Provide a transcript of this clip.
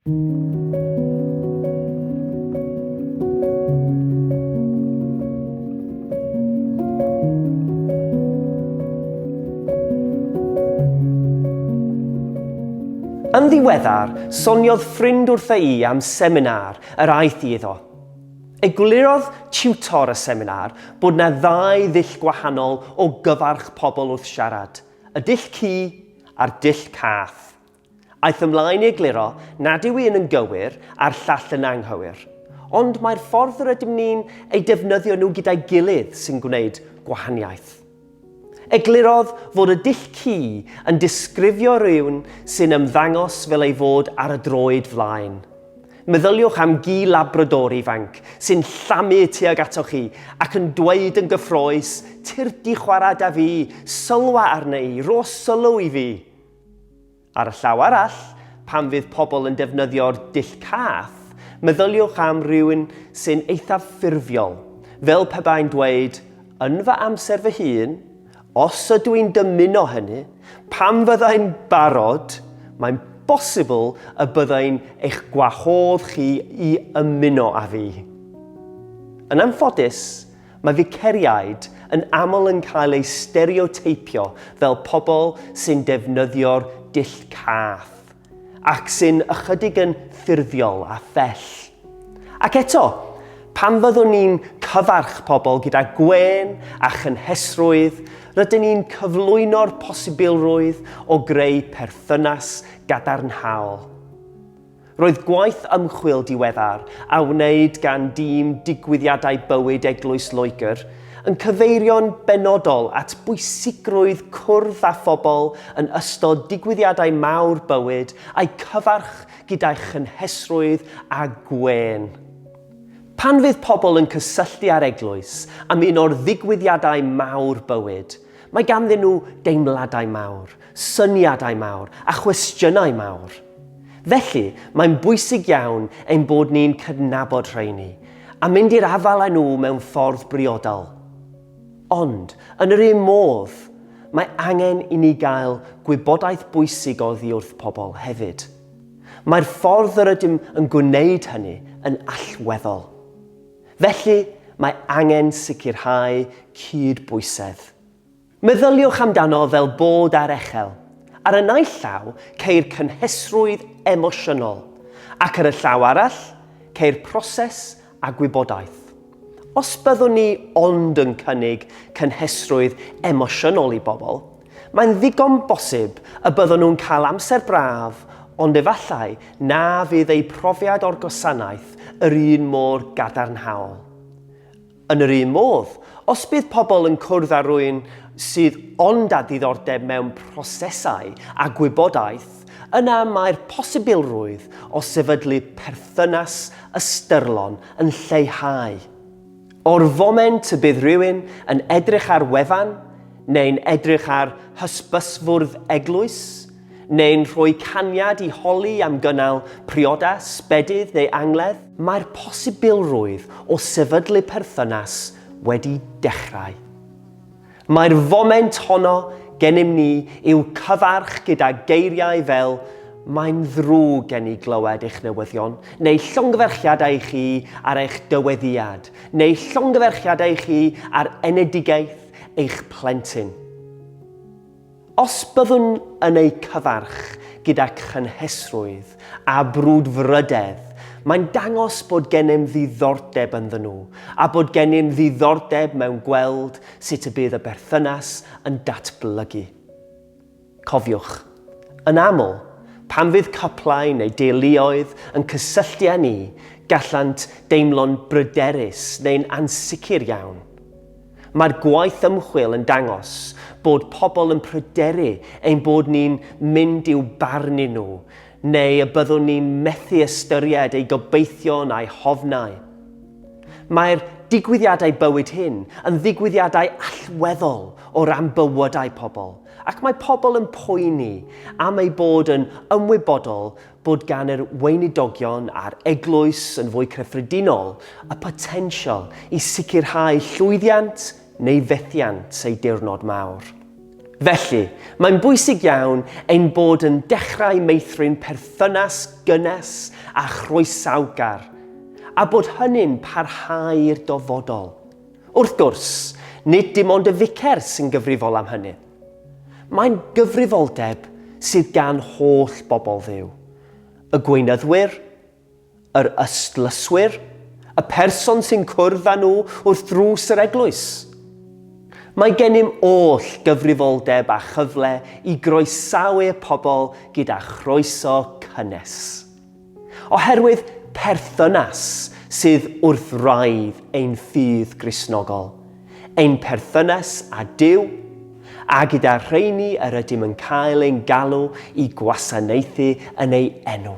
Yn ddiweddar, soniodd ffrind wrtha i am seminar yr aeth i iddo. Eglurodd tiwtor y seminar bod na ddau ddull gwahanol o gyfarch pobl wrth siarad, y dull cu a'r dull cath. Aeth ymlaen i egluro nad yw un yn gywir a'r llall yn anghywir, ond mai'r ffordd yr ydym ni'n eu defnyddio nhw gyda'i gilydd sy'n gwneud gwahaniaeth. Eglurodd fod y dull ci yn disgrifio rhywun sy'n ymddangos fel ei fod ar y droed flaen. Meddyliwch am gi Labrador ifanc sy'n llamu tuag atoch chi ac yn dweud yn gyffrous, 'Tirdi chwarae 'da fi, sylwa arna i, rho sylw i fi! Ar y llaw arall, pan fydd pobl yn defnyddio'r dull cath, meddyliwch am rywun sy'n eithaf ffurfiol, fel pe bai'n dweud, yn fy amser fy hun, os ydw i'n dymuno hynny, pan fydda i'n barod, mae'n bosibl y bydda i'n eich gwahodd chi i ymuno â fi. Yn anffodus, Mae Ficerïaid yn aml yn cael eu stereoteipio fel pobl sy'n defnyddio'r dull cath, ac sy'n ychydig yn ffurfiol a phell. Ac eto, pan fyddwn ni'n cyfarch pobl gyda gwên a chynhesrwydd, rydyn ni'n cyflwyno'r posibilrwydd o greu perthynas gadarnhaol. Roedd gwaith ymchwil diweddar a wneud gan dîm Digwyddiadau Bywyd Eglwys Loegr yn cyfeirio'n benodol at bwysigrwydd cwrdd â phobl yn ystod digwyddiadau mawr bywyd a'u cyfarch gyda'i chynhesrwydd a gwên. Pan fydd pobl yn cysylltu â'r Eglwys am un o'r ddigwyddiadau mawr bywyd, Mae ganddyn nhw deimladau mawr, syniadau mawr a chwestiynau mawr. Felly, mae'n bwysig iawn ein bod ni'n cydnabod rheini a mynd i'r afael â nhw mewn ffordd briodol. Ond, yn yr un modd, mae angen i ni gael gwybodaeth bwysig oddi wrth pobl hefyd. Mae'r ffordd yr ydym yn gwneud hynny yn allweddol. Felly, mae angen sicrhau cyd-bwysedd. Meddyliwch amdano fel bod ar echel, ar y naill llaw, ceir cynhesrwydd emosiynol, ac ar y llaw arall, ceir proses a gwybodaeth. Os byddwn ni ond yn cynnig cynhesrwydd emosiynol i bobl, Mae'n ddigon bosib y byddwn nhw'n cael amser braf, ond efallai na fydd eu profiad o'r gwasanaeth yr un mor gadarnhaol. Yn yr un modd, os bydd pobl yn cwrdd â rhywun sydd ond â diddordeb mewn prosesau a gwybodaeth, yna mae'r posibilrwydd o sefydlu perthynas ystyrlon yn lleihau. O'r foment y bydd rhywun yn edrych ar wefan, neu'n edrych ar hysbysfwrdd eglwys, neu'n rhoi caniad i holi am gynnal priodas, bedydd neu angledd, mae'r posibilrwydd o sefydlu perthynas wedi dechrau. Mae'r foment honno gennym ni i'w cyfarch gyda geiriau fel Mae'n ddrwg gen i glywed eich newyddion, neu llongyfarchiadau i chi ar eich dyweddïad, neu llongyfarchiadau i chi ar enedigaeth eich plentyn. Os byddwn yn eu cyfarch gyda chynhesrwydd a brwdfrydedd, mae'n dangos bod gennym ddiddordeb ynddyn nhw a bod gennym ddiddordeb mewn gweld sut y bydd y berthynas yn datblygu. Cofiwch, yn aml, pan fydd cyplau neu deuluoedd yn cysylltu â ni, gallant deimlo'n bryderus neu'n ansicr iawn. Mae'r gwaith ymchwil yn dangos bod pobl yn pryderu ein bod ni'n mynd i'w barnu nhw neu y byddwn ni'n methu ystyried eu gobeithion a'u hofnau. Mae'r digwyddiadau bywyd hyn yn ddigwyddiadau allweddol o ran bywydau pobl ac mae pobl yn poeni am eu bod yn ymwybodol bod gan yr Weinidogion a'r Eglwys yn fwy cyffredinol y potensial i sicrhau llwyddiant neu fethiant ei diwrnod mawr. Felly, mae'n bwysig iawn ein bod yn dechrau meithrin perthynas gynnes a chroesawgar, a bod hynny'n parhau i'r dofodol. Wrth gwrs, nid dim ond y ficer sy'n gyfrifol am hynny. Mae'n gyfrifoldeb sydd gan holl bobl Dduw, y gweinyddwyr, yr ystlyswyr, y person sy'n cwrdd â nhw wrth ddrws yr eglwys. Mae gennym oll gyfrifoldeb a chyfle i groesawu y pobl gyda chroeso cynnes. Oherwydd perthynas sydd wrth wraidd ein ffydd Gristnogol, ein perthynas â Duw, a gyda rheini yr ydym yn cael ein galw i gwasanaethu yn ei enw.